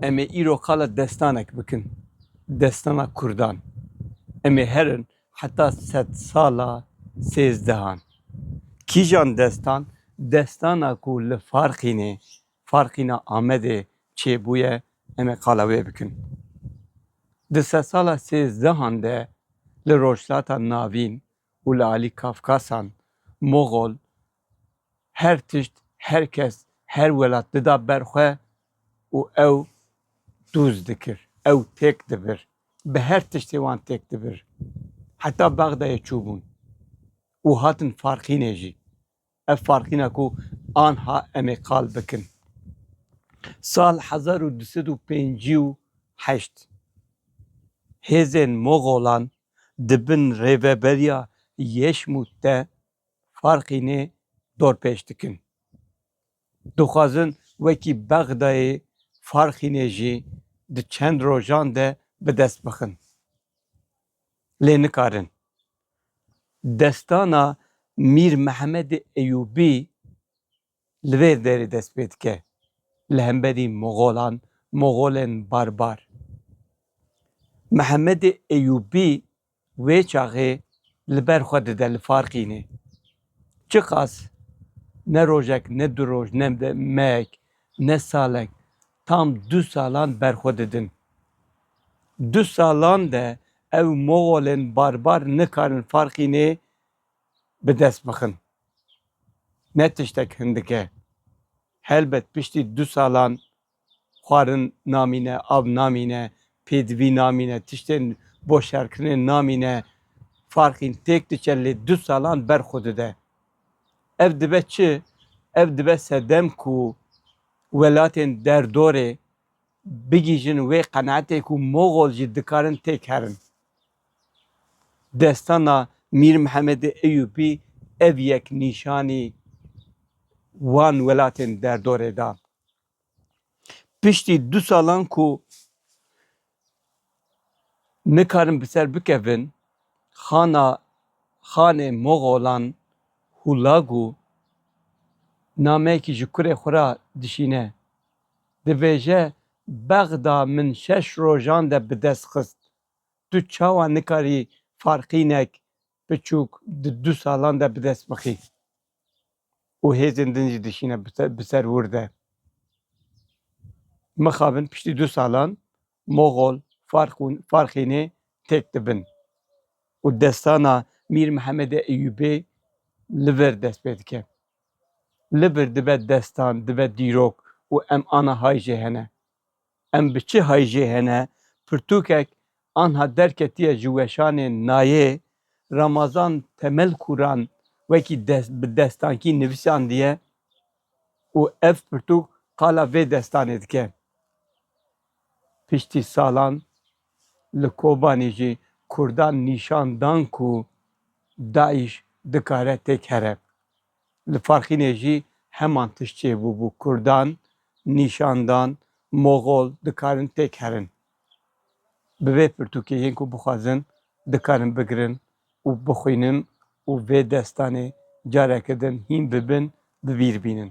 Em ê îro qala destanek bikin, destana Kurdan. Em ê herin heta sed sala sêzdehan. Kîjan destan? Destana ku li Farqînê, Farqîna Amedê çêbûye em ê qala wê bikin. Di sed sala sêzdehan de li Rojhilata Navîn û li alî Kafkasan, Moxol, her tişt, her kes, her welat dida ber xwe û ew dûz dikir, ew têk dibir. Bi her tiştê wan têk dibir. Heta Bexdayê çûbûn û hatin Farqînê jî. Ev farqîna ku anha em ê qal bikin. Sal hezar û du sed û pêncî û heşt hêzên Moxolan di bin rêveberiya Yeşmût de Farqînê dorpêç dikin. Dixwazin wekî Bexdayê Farqînê jî di çend rojan de bi dest bixin. Lê nikarin. Destana Mîr Mehemedê Eyûbî li vê derê dest pê dike, li hemberî Moxolan, Moxolên barbar. Mehemedê Eyûbî wê çaxê li ber xwe dide li Farqînê. Çiqas ne rojek, ne du roj, ne mehek, ne salek Tam du salan ber xwe didin. Du salan de ew moxolên barbar nikarin Farxînê bi dest bixin. Ne tiştek hindik e. Helbet piştî du salan xwarin namîne, av namîne, pêdivî namîne, tiştên bo şerkirinê namîne. Farxîn têk diçe lê du salan ber xwe dide. Ev dibe çi? Ev dibe sedem ku Welatên derdorê bigihîjin wê qenaetê ku Moxol jî dikarin têk herin. Destana Mîr Mihemedê Eyûbî ev yek nîşanî wan welatên derdorê da. Piştî du salan ku Nikarin bi ser bikevin xana xanê Moxolan Hulagu nameyekî ji kurê xwe re dişîne. Dibêje Bexda min şeş rojan de bi dest xist. Tu çawa nikarî farqînek biçûk di du salan de bi dest bixî? û hêzên din jî dişîne bi ser wir de. Mixabin piştî du salan Moxol, Farxûnê têk dibin û destana Mîr Mihemedê Eyûbê li vir dest pê dike. Li vir dibe destan, dibe dîrok û em anihay jê hene. Em bi çi hijê hene? Pirtûkek anha derketiye ji weşanê nayê. Ramazan Temel Kuran wekî dest bi destankî nivisandiye û ev pirtûk qala vê destanê dike. Piştî salan li Kobanî jî kurdan nîşan dan ku DAIŞ dikare têk here. Li Farxînê jî heman tişt çêbûbû, Kurdan nîşan dan Moxol dikarin têk herin. Bi vê pirtûkê yên ku bixwazin dikarin bigirin û bixwînin û vê destanê careke din hîn bibin, bi bîr bînin.